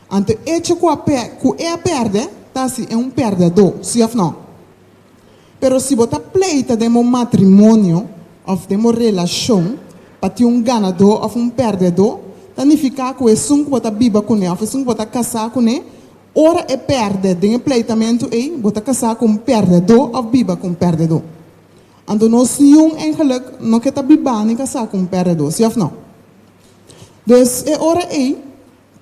Anto echo ku a pè, ku e a pèrdè, ta si e un pèrdèdó, si òf nò? Pero si bo ta pleita den bo matrimonio òf den bo relashon pa tin un ganadó òf un pèrdèdó, ta nifiká ku esun ku bo ta biba kuné òf esun ku bo ta kasá kuné, ora e pèrdè den e pleitamentu ei, bo ta kasá ku un pèrdèdó òf biba ku un pèrdèdó. Anto nos niun eingeluk no ke ta bibá ni kasá ku un pèrdèdó, si òf nò? Dus e ora ei.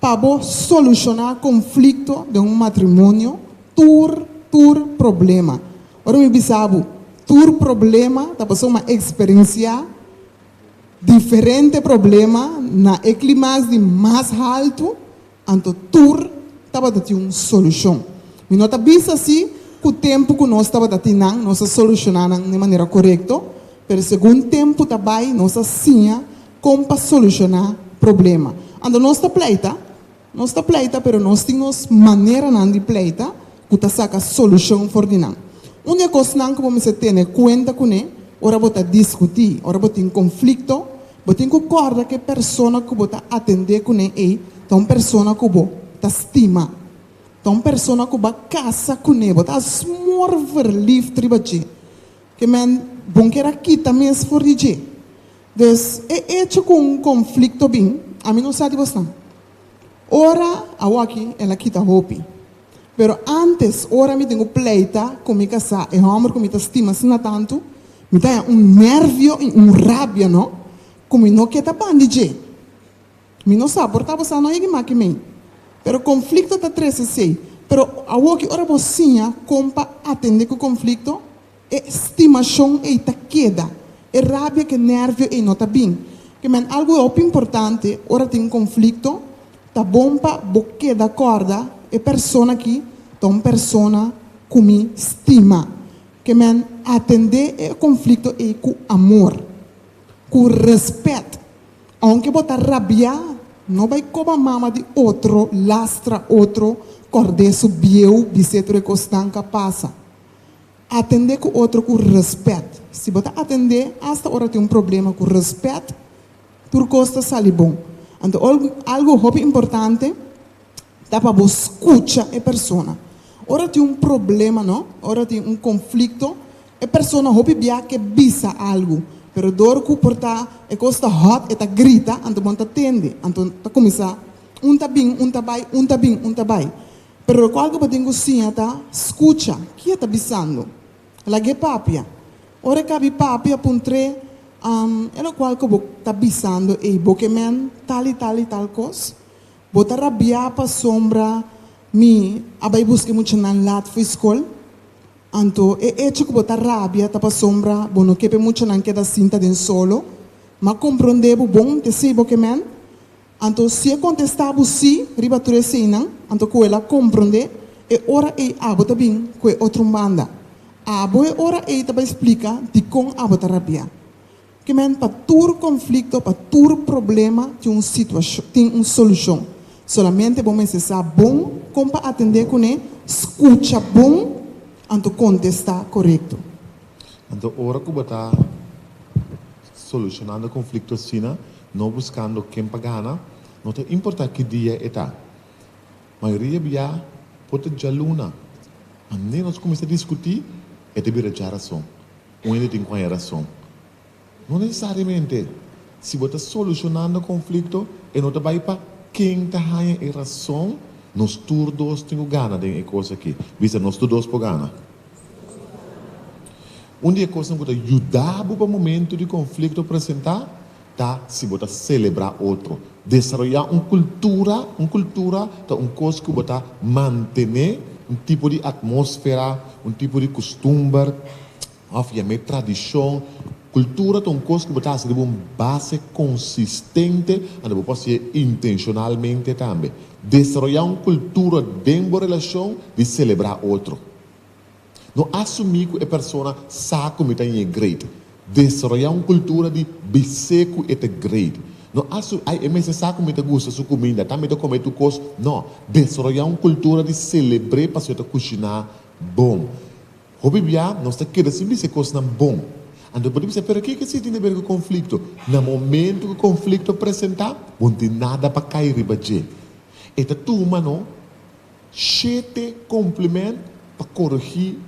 Pa bo solushoná konflikto den un matrimonio, tur tur problema. Ora mi bisa bo tur problema ta pasobra mi a eksperensiá diferente problema na e klimax di mas haltu, anto tur tabata tin un solushon. Mi no ta bisa así ku tempu ku nos tabata tin nan nos a solushoná nan den manera korekto, pero segun tempu ta bai nos a siña Kon pa solushoná problema. Anto nos ta pleita, nos ta pleita pero nos tin nos maneranan di pleita ku ta saka solushon for di nan. Un di e kosnan ku bo mester tene kuenta kuné ora bo ta diskutí, ora bo tin konflikto, bo tin ku kòrda ku e persona ku bo ta atendé kuné ei ta un persona ku bo ta stima, ta un persona ku bo a kasa kuné, bo ta asmor verliefd riba dje. Ke mèn bon kera kita mes for di dje. Des e echo ku un konflikto bin, ami no sa di bo sna. Ora awoki el a kita hopi. Pero antes, ora mi tin ku pleita ku mi kasá, e hòmber ku mi ta stima sna tantu, mi ta haña un nervio i un rabia no ku mi no ke ta ban di dje. Mi no sa por ta bo sa no yegi maki mei. Pero konflikto ta trese esei. Pero awoki ora bo siña kon pa atendé ku konflikto, E stimashon ei ta keda. E rabia ku e nervio ei no ta bin. Ke men algu hopi importante ora tin konflikto, ta bon pa bo keda kòrda e persona aki ta un persona ku mi stima. Ke men atendé e konflikto ei ku amor, ku rèspèt. Ounke bo ta rabiá, no bai koba mama di otro, lastra otro, kòrd'é su bieu bisé tur e kosnan ka pasa. Atendé ku otro ku rèspèt. Si bo ta atendé asta ora tin un problema ku rèspèt, tur kos ta sali bon. Anto algu hopi importante ta pa bo skucha e persona. Ora tin un problema, no? Ora tin un konflikto, e persona hopi bia ke bisa algu, pero dor ku por ta e kos ta hòt e ta grita, anto bon ta tende. Anto ta kuminsá un ta bin, un ta bai, un ta bin, un ta bai. Pero e kual ku patin ku siña ta, Skucha, ki e ta bisando. Lag'é papia. Ora e kabi papia, puntr'é, Am, e lokual ku bo ta bisando ei, bo ke men tal i tal i tal kos? Bo ta rabiá pasobra mi a bai buska e muchanan lat fo'i skol? Anto, e echo ku bo ta rabia ta pasobra bo no ke p'e muchanan keda sinta den solo? M'a komprondé bo bon, t'esei bo ke men? Anto si e kontestá bo sí riba tur eseinan, anto ku el a komprondé e ora ei abo ta bin ku e otro un banda. Abo e ora ei ta bai splika dikon abo ta rabiá. Kman pa tur konflikto, pa tur problema tin un situashon, tin un solushon. Solamente bo mester sa bon kon pa atendé kuné, skucha bon, anto kontestá korekto. Anto ora ku bo ta. Solucionando conflicto asina, no buscando ken pa gana, no ta importa ki dia e ta. Mayoria bia por ta djaluna, ma nen nos cuminsa discuti e ta bira dja rason. Un hende tin cuaña rason. No necesariamente si bo ta solucionando conflicto e no ta bay pa ken ta haña e rason, nos tur dos tin cu gana den e cos aki. Bisa, nos tur dos por gana. Un di e kosnan ku ta yuda bo pa momentu di konflikto presentá ta si bo ta selebrá otro. Desaroyá un kultura, Un kultura ta un kos ku bo ta mantené un tipo di atmósfera, un tipo di kustumber òf yam'é tradishon. Kultura ta un kos ku bo ta hasi riba un base konsistente, ande bo por hasié intenshonalmente tambe. Desaroyá un kultura den bo relashon di selebrá otro. No asumí ku e persona sa ku mi ta ñe great. Desaroyá un kultura di bis'é ku e ta great. No asumí, ai e mester sa ku mi ta gusta su kuminda, ta mi ta kome tur kos. No. Desaroyá un kultura di selebr'é pasobra e ta kushiná bon. Hopi bia nos ta keda sin bisa e kosnan bon. Anto bo ta bisa, Pero kiko así tin ta bira ku konflikto? Na momentu ku konflikto presentá, bo no tin nada pa kai riba dje. E ta tur ma no shete komplemènt pa korigí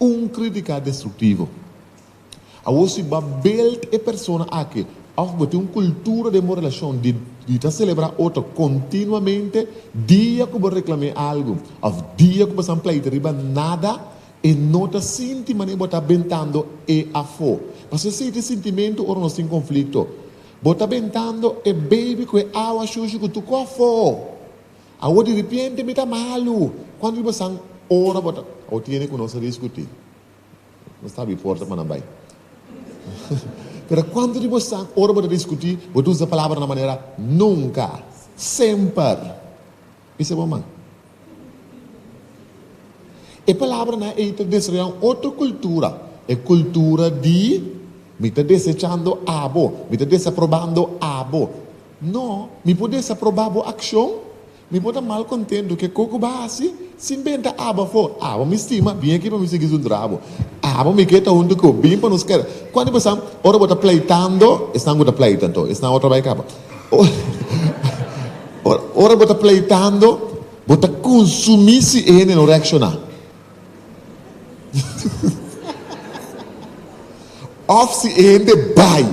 un krítika destruktivo. Awor si bo a belt e persona aki òf bo tin un kultura den bo relashon di di ta selebrá otro kontinuamente dia ku bo reklam'é algu òf dia ku bo san pleita riba nada, e no ta sinti manera bo ta bentando e afó. Pasobra esei ta e sintimentu ora nos tin konflikto. Bo ta bentando e beibi ku e awa shushi ku tukó afó. Awor diripiente mi ta malu. Kuantu di bo san ora bo ta. Awor tiene ku nos a diskutí. Nos ta abi porta pa nan bai. Pero cuantu di bo sa ora bo ta discuti bo ta usa palabra na manera nunca, semper. Bisa bo man. E palabranan ei ta desarroya un otro cultura, e cultura di mi ta desechando abo, mi ta desaprobando abo. No, mi por desaproba bo accion, Mi por ta mal kontentu ke ko ku bo a hasi sin ben ta abo afó. Abo mi stima, bin aki pa mi sigui su drabo. Abo mi ke ta huntu ku bo, bin pa nos keda. Kual di boso, ora bo ta pleitando, esnan ku ta pleita anto, esnan otra bai kaba. Ora bo ta pleitando, bo ta konsumí si e hende no reakshoná. Òf si e hende bai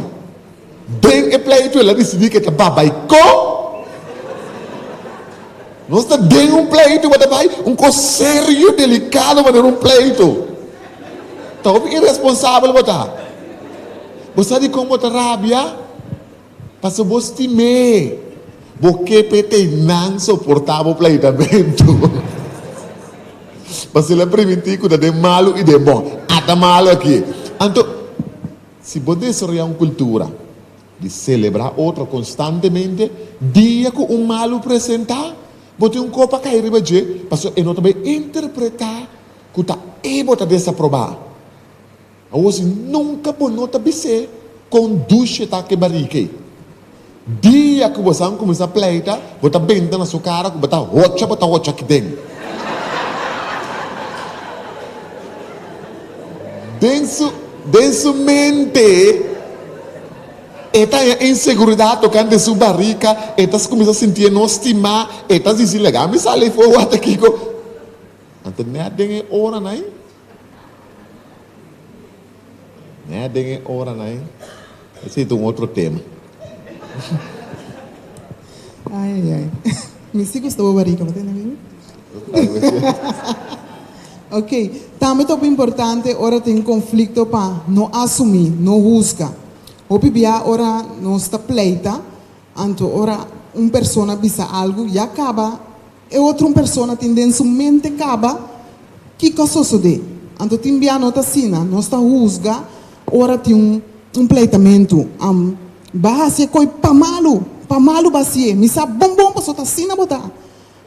den e pleito, el a disidí ku e ta bai. Bai kon? Nos ta den un pleito i bo ta bai? Un kos serio, delikado manera un pleito. Ta hopi iresponsabel bo ta. Bo sa dikon bo ta rabia? Paso bo stim'é, bo kep'é t'ei nan soportá bo pleitamentu. Paso el a primintí ku ta den malu i den bon. A ta malu aki. Anto, si bo desaroyá un kultura di selebrá otro konstantemente, dia ku un malu presentá, bo tin un kos pa kai riba dje, paso e no ta bai interpretá ku ta ei bo ta desaprobá. Awor si nunka bo no ta bis'é kon dushe ta ke barika ei. Dia ku bosan kuminsá pleita, bo ta benta na su kara ku bo ta hocha, bo ta hocha aki den. Den su den su mente e ta haña inseguridat tokante su barika, e ta kuminsá sintié no stimá, e ta disi, Laga mi sal ei for wata kiko. Anto nèt den e oranan, Nea den e oranan ei. Ese ta un otro tema. Ai ai ai. Mi si gusta boba rica, bo ta hende mi? Ok, tambe ta hopi importante ora tin conflicto pa no asumi, no huzga. Hopi bia ora nos ta pleita, Anto ora un persona bisa algu ya kaba, e otro un persona tin den su mente kaba kiko a sosodé. Anto tin bia no ta asina, nos ta husga ora tin un pleitamentu, Am ba hasi e koi pa malu, pa malu ba hasié, mi sa bon bon pasobra ta asina bo ta.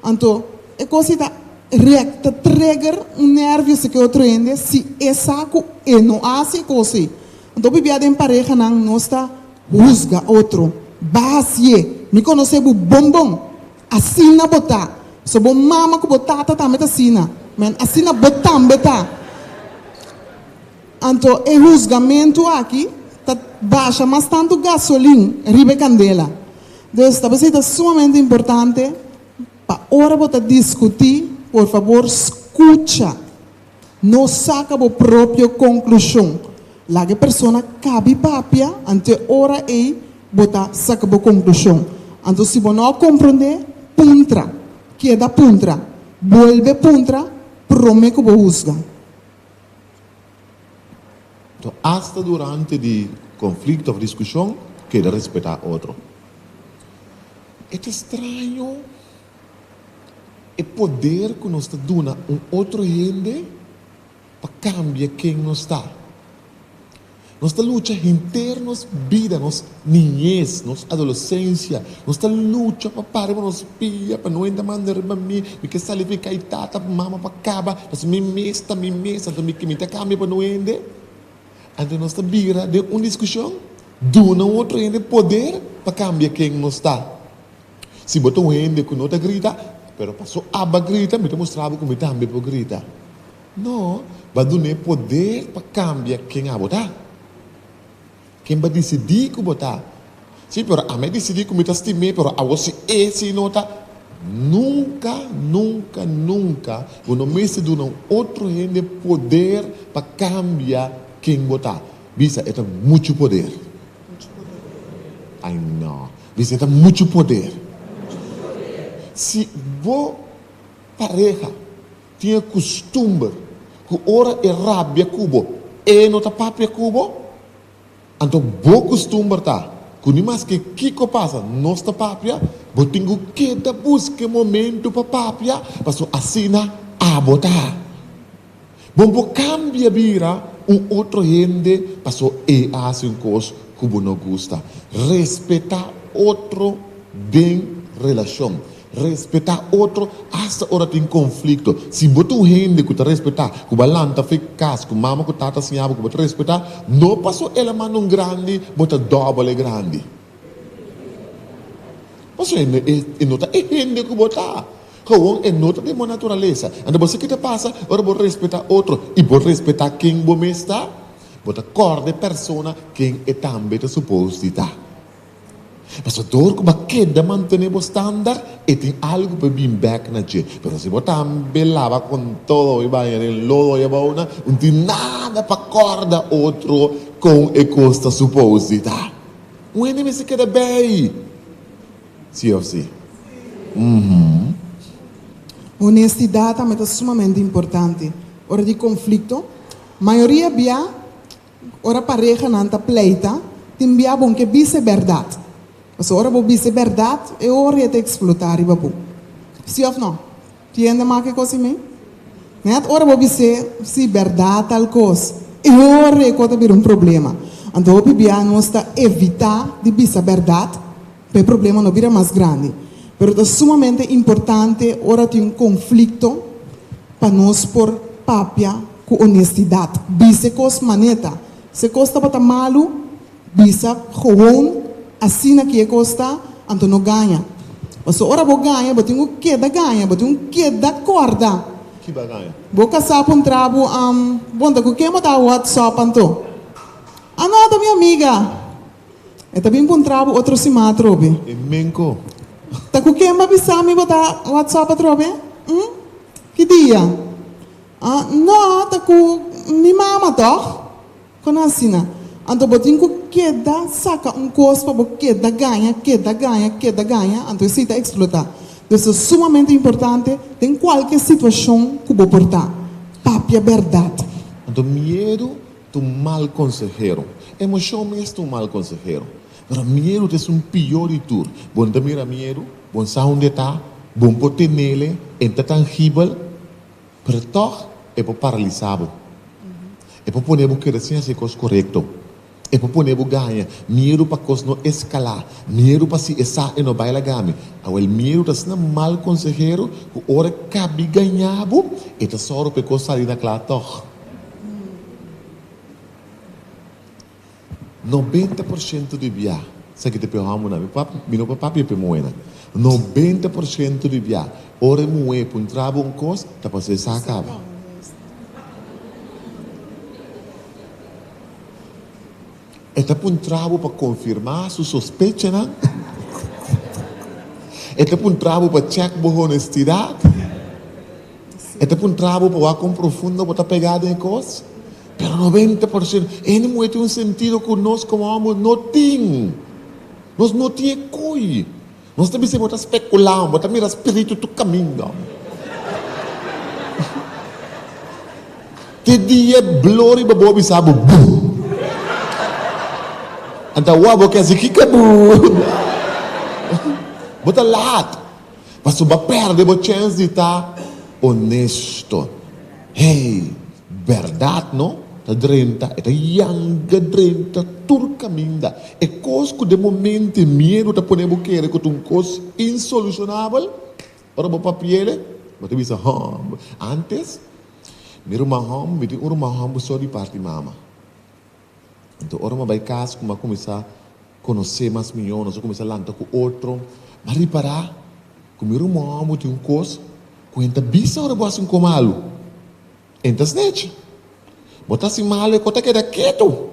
Anto e cos ei ta rek, ta trigger un nervios di ki otro hende si e sa cu e no haci e cos ei. Anto p'bia den parehanan nos ta huzga otro, Basie, mi conoce bo bon bon, asina bo ta, so bo mama cu bo tata tambe ta asina, men asina bo tambe ta. Anto e husgamentu aki ta basha mas tantu gasolin riba e kandela. Dus ta pasobra ta sumamente importante pa ora bo ta diskutí, por fabor skucha, no saka bo propio konklushon. Laga e persona kabi papia anto ora ei bo ta saka bo konklushon. Anto si bo no a komprondé, puntra, keda puntra, bolbe puntra promé ku bo husga. So asta durante di konflikto òf diskushon keda respetá otro. E ta straño e poder ku nos ta duna un otro hende pa kambia ken nos ta. Nos ta lucha henter nos bida, nos niñez, nos adolesensia. Nos ta lucha pa para riba nos pia, pa no enta manda riba mi, mi ke sali fi kai tata pa mama pa kaba, pasobra mi mes ta mi mes, anto mi ke mi ta kambia pa no hende. Anto nos ta bira den un diskushon, duna otro hende poder pa kambia ken nos ta. Si bo ta un hende ku no ta grita, pero pa su aba grita, mi ta mustra bo ku mi tambe por grita. No, bo duna e poder pa cambia ken abo ta, ken bo a dicidi cu bo ta. Si, pero ami a dicidi cu mi ta stim'e, pero awor si e si no ta. Nunca, nunca, nunca bo no mester duna un otro hende poder pa cambia ken bo ta. Bisa, e ta muchu poder. Ay no. Bisa, e ta muchu poder. Si bo pareha. Tin e kustumber ku ora e rabia ku bo, e no ta papia ku bo. Anto bo kustumber ta ku ni mas ke kiko pasa nos ta papia. Bo tin ku keda buska e momentu pa papia, pasobra asina abo ta. Bo por kambia bira un otro hende pasobra e a hasi un kos ku bo no gusta. Respetá otro den relashon. Respetá otro asta ora tin konflikto. Si bo ta un hende ku ta respetá, ku bo a lanta fe kas ku mama ku tata a siña bo ku bo ta respetá, no pasó el a manda un grandi, bo ta dòbel e grandi. Pasobra e no e no ta e hende ku bo ta. Gewoon e no ta den bo naturalesa. Anto bo sa ke ta pasa ora bo respetá otro i bo respetá ken bo mes ta? Bo ta kòrda e persona ken e tambe ta supos di ta. Pasador ku bo keda mantené bo standar, e tin algu pa e bin bèk na dje. Pero si bo tambe laba kon todo e baña den lodo i abou nan, no tin nada pa kòrda otro kon e kos ta supos di ta. Un hende mester keda bei, si òf si? Onestidat tambe ta sumamente importante ora di konflikto. Mayoria bia Ora parehanan ta pleita, tin bia bon ke bis'e bèrdat. Pasobra ora bo bis'e bèrdat, e ora e ta eksplotá riba bo. Sí òf nò? Ki hende a maka e kos imei? Nèt ora bo bis'é, Sí, bèrdat tal kos, e ora e kos ta bira un problema. Anto hopi bia nos ta evitá di bisa bèrdat pa e problema no bira mas grandi, pero ta sumamente importante ora tin un conflicto pa nos por papia cu honestidad, bisa e cos maneta, si e cos tabata malu bisa gewoon asina ki e cos ta, anto no gaña, pasobra ora bo gaña bo tin cu keda gaña, bo tin cu keda corda, bo casa puntra bo, Am, bo ta cu ke manda whatsapp anto? Anata mi amiga. E ta bin bon trabo otro sima atrobe. E menco. Ta cu ken bo a bisa mi bo ta WhatsApp atrobe? Hm? Ki dia? Ah, no, ta cu mi mama toch? Con asina? Anto bo tin cu keda saca un cos pa bo keda gaña, keda gaña, keda gaña, anto esey ta explota. Pues ta sumamente importante den cualke situacion cu bo por ta, papia berdad. Anto miedu ta un mal konsehero. Emoshon mes ta un mal konsehero. Pero miedu ta es un pió di tur. Bo no ta mira miedu, bo no sa hunde e ta, bo no por tenele, e no ta tangibel, pero tòg e por paralisá bo. E por pone bo kere sin hasi kos korekto. E por pone bo gaña miedu pa kos no eskalá, miedu pa si esá e no bai laga mi. Awor, miedu ta asina mal konsehero ku ora e kabi gañá bo, e ta sòru pa e kos sali na kla tòg. Nobenta por shento di bia sa ki ta p'e hòmber nan, mi no por papia p'e muhé nan. Nobenta por shento di bia, ora e muhé pon traba un kos, ta paso esá a kaba. E ta puntra bo pa konfirmá su sospechanan? E ta puntra bo pa chèk bo honestidat? E ta puntra bo pa wak kon profundo bo ta pegá den e kos? Pero noventa por sento ene muhé tin un sentido ku nos komo òmber no tin. Nos no tin e koi. Nos ta bisa bo ta spekulá, bo ta mira spiritu tur kaminda. Te dia blo riba bo a bisa bo bu. Anta awa bo ke hasi kiko bu? Bo ta laat, pasobra bo a perde bo chens di ta onesto. Hey! Berdad no? Ta drenta, e ta yanga drenta tur caminda. E cos cu den momento e miedo ta pone bo kere cu ta un cos insolucionabel, ora bo papiele, bo ta bisa, Hum! Antes, mi ruman Hum, mi tin un ruman Hum so di parti mama. Anto, ora mi a bay cas cu mi a cuminsa. Conoce mas mijo, nos a cuminsa lanta cu otro. M'a ripara cu mi rumoa bo tin un cos cu hen ta bisa ora bo haci un cos malo. Hen ta snechi. Bo ta haci malo e cos ta keda ketu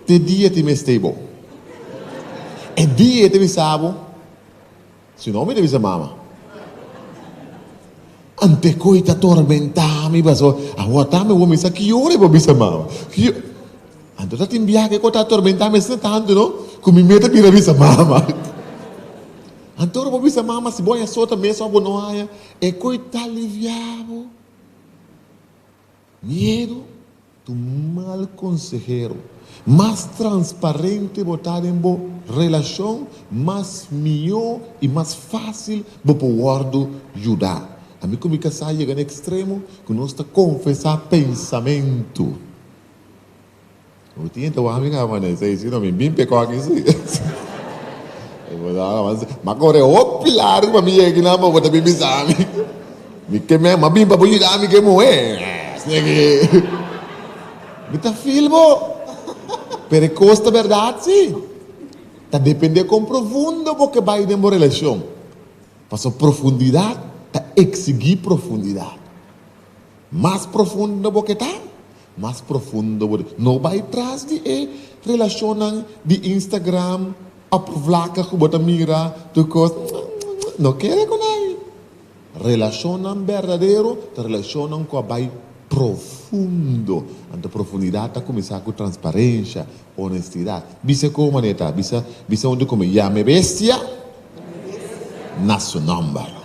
te dia e ta investei bo. E dia e ta bisa bo. Si no mi ta bisa mama. Ante koe ta tormenta mi paso aguanta mi awor mi sa ki ora i por bisa mama. Ante ota tin biaha ke koe ta tormenta mi asina tantu no ku mi meta bira bisa mama. Ante ora bo bisa mama si bo haña sort ta mes of bo no haña e koe ta aliviabo. Miedu ta un mal konsehero. Mas transparente bo ta den bo relashon, mas mihó i mas fásil bo por wòrdu yuda. Ami ku mi kasá yega na ekstremo ku nos ta konfesá pensamentu. Mi tin e tawami ka mané, esei i sino mi bin pekó aki si. E bo sa ka manse, m'a kore hopi largu pa mi yega aki nan pa bo ta bin bisa mi. Mi ke meh, m'a bin pa bo yuda mi ke muhé. Esei ki, mi ta feel bo. Pero e kos ta bèrdat si. Ta dependé kon profundo bo ke bai den bo relashon. Pasobra profundidat ta eksigí profundidat. Mas profundo bo ke ta, mas profundo bo di. No bai tras di e relashonnan di Instagram òf vlaka ku bo ta mira tur kos nge nge nge. No kere ku nadie. Relashonnan berdadero ta relashonnan ku a bai profundo. Anto profundidat ta kuminsá ku transparensha, onestidat. Bisa ku manera ta, bisa bisa unde ku mi ya mi bestia na su nòmber.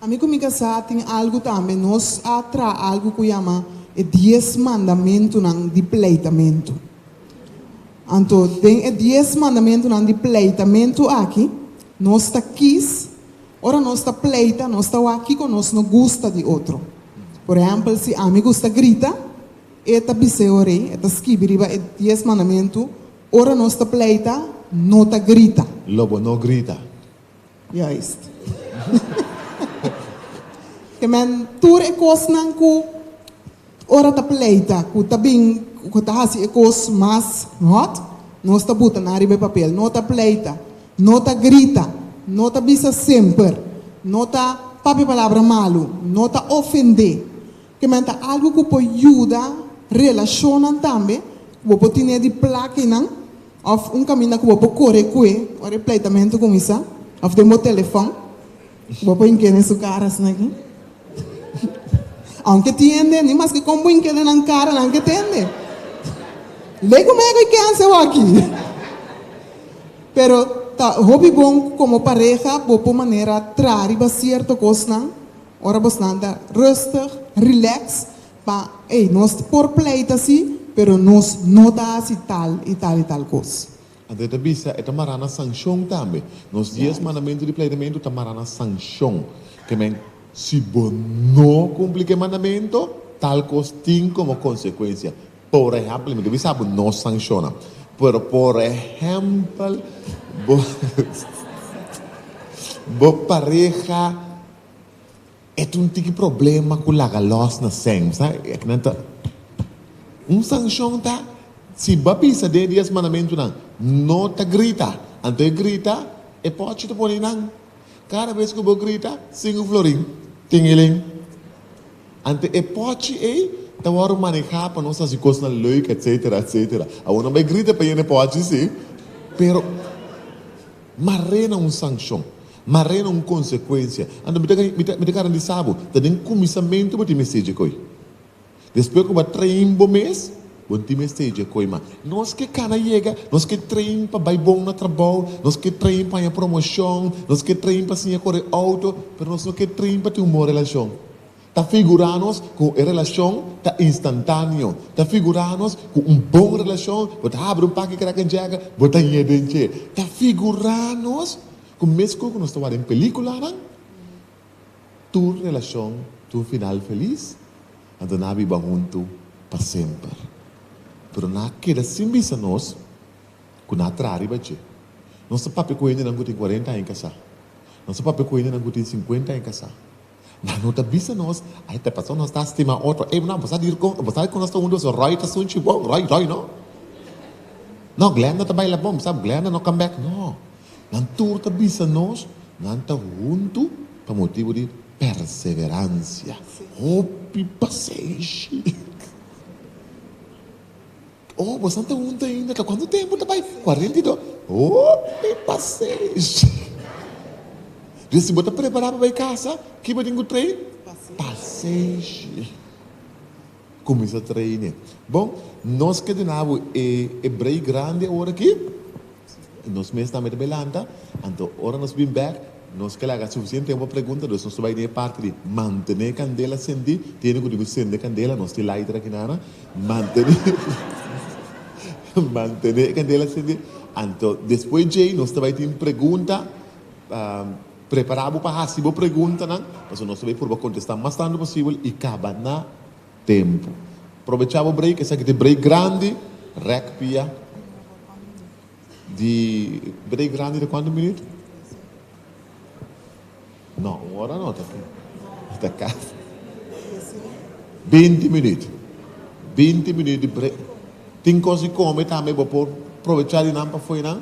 Ami ku mi kasá tin algu tambe. Nos a traha algu ku yama e Dies Mandamentunan di Pleitamentu. Anto den e Dies Mandamentunan di Pleitamentu aki nos ta kis ora nos ta pleita, nos ta wak kiko nos no gusta di otro. Por ehèmpel, si ami gusta grita, e ta biseo rei, e ta skibi riba e Dies Mandamentu, ora nos ta pleita, no ta grita. Lo bo no grita. Juist. Te men tur e kosnan ku ora ta pleita, ku ta bin, ku ta hasi e kos mas hòt, nos ta buta nan riba e papel. No ta pleita, no ta grita, no ta bisa semper, no ta papia palabra malu, no ta ofendé. Ke men ta algu ku por yuda relashonnan tambe, ku bo por tine di plakinan Of un kaminda ku bo por kore ku e ora e pleitamentu kuminsá, of den bo telefòn ku bo por hink'é den su kara asina aki. Ounke tin hende, ni maske kon bo hink'é den nan kara, nan ke tende. Lego mego i kèn seu aki. Pero ta hopi bon ku komo pareha bo por manera traha riba sierto kosnan ora bo snanta rustig, rilèks, Pa ey nos por pleita si, pero nos no ta haci tal y tal y tal cos. André ta bisa, e ta mará na sancion tambe. Nos dies mandamentu di pleitamentu ta mará na sancion. Ke men, si bo no cumpli ke mandamentu, tal cos tin como consecuencia. Por ehempel, mi ta bisa bo, no sanciona, pero por ehempel bo bo pareha E tun tin ki problema ku laga lòs na sèn. Bo sa ke nan ta Un sanshon ta si bo a bisa den e Dies Mandamentunan, No ta grita. Anto e grita, e pòchi ta pone nan. Kada bes ku bo grita, sinku florin, tingilin. Anto e pòchi ei ta wòrdu manehá pa nos hasi kosnan lèuk, etsetera, etsetera. Awor nan bai grita pa yena e pòchi, si, pero mar'é na un sanshon. Ma rena un konsekuensia. Anto mi ta mi ta garantisa bo, ta den kuminsamentu bo tin mester dje koi. Despues ku bo a train bo mes, bo tin mester dje koi mas. Nos ke kana yega, nos ke train pa bai bon na trabou, nos ke train pa haña promoshon, nos ke train pa siña kore outo, pero nos no ke train pa tin un bon relashon. Ta figurá nos ku e relashon ta instantáneo. Ta figurá nos ku un bon relashon bo ta habri un paki kraka djèga, bo ta haña den dje. Ta figurá nos Ku mesku ku nos ta wak den pelikulanan, tur relashon tin un final felis, anto nan a biba huntu pa semper. Pero nan a keda sin bisa nos ku nan a traha riba dje. Nos ta papia ku hendenan ku tin kuarenta aña kasá. Nos ta papia ku hendenan ku tin sinkuenta aña kasá. Nan no ta bisa nos, ai ta paso nos ta stima otro. Ey muna, bo sa dir con, bo sabe con nos ta hundu eso, Roy ta sunchi bon, Roy, Roy no. No, Glenda ta baila bon, bo sab, Glenda no come back, no. Nan tur ta bisa nos, nan ta hundu pa motibu di perseverancia, hopi pasenshi. Oh, bosan ta hunta ainda ka? Cuantu tempu ta bai? Cuarenta y dos. Oh, e pasenshi! Riba si bo ta prepara pa bai casa, ki bo tin cu trae? Pasenshi. Cuminsa trae ne. Bon, nos ke duna bo e brei grandi awor aki. Nos mes tambe ta bai lanta, anto ora nos bin bek, nos ke laga sufisiente tempu pa pregunta, dus nos ta bai den e parti di mantené kandela sendí, tende ku tin ku sende kandela, nos tin lighter aki nan, mantené mantené e kandela sendí, anto despues djei nos ta bai tin pregunta, prepará bo pa hasi bo preguntanan, pasobra nos ta bai purba kontestá mas tantu posibel i kaba na. Tempu. Probechá bo break, esaki ta e break grandi, rèk pia di break grandi ta kuantu minutu? No, un ora no ta aki, ta kas binti minutu, binti minutu di break. Tin kos di kome tambe, bo por probechá di nan pafuenan.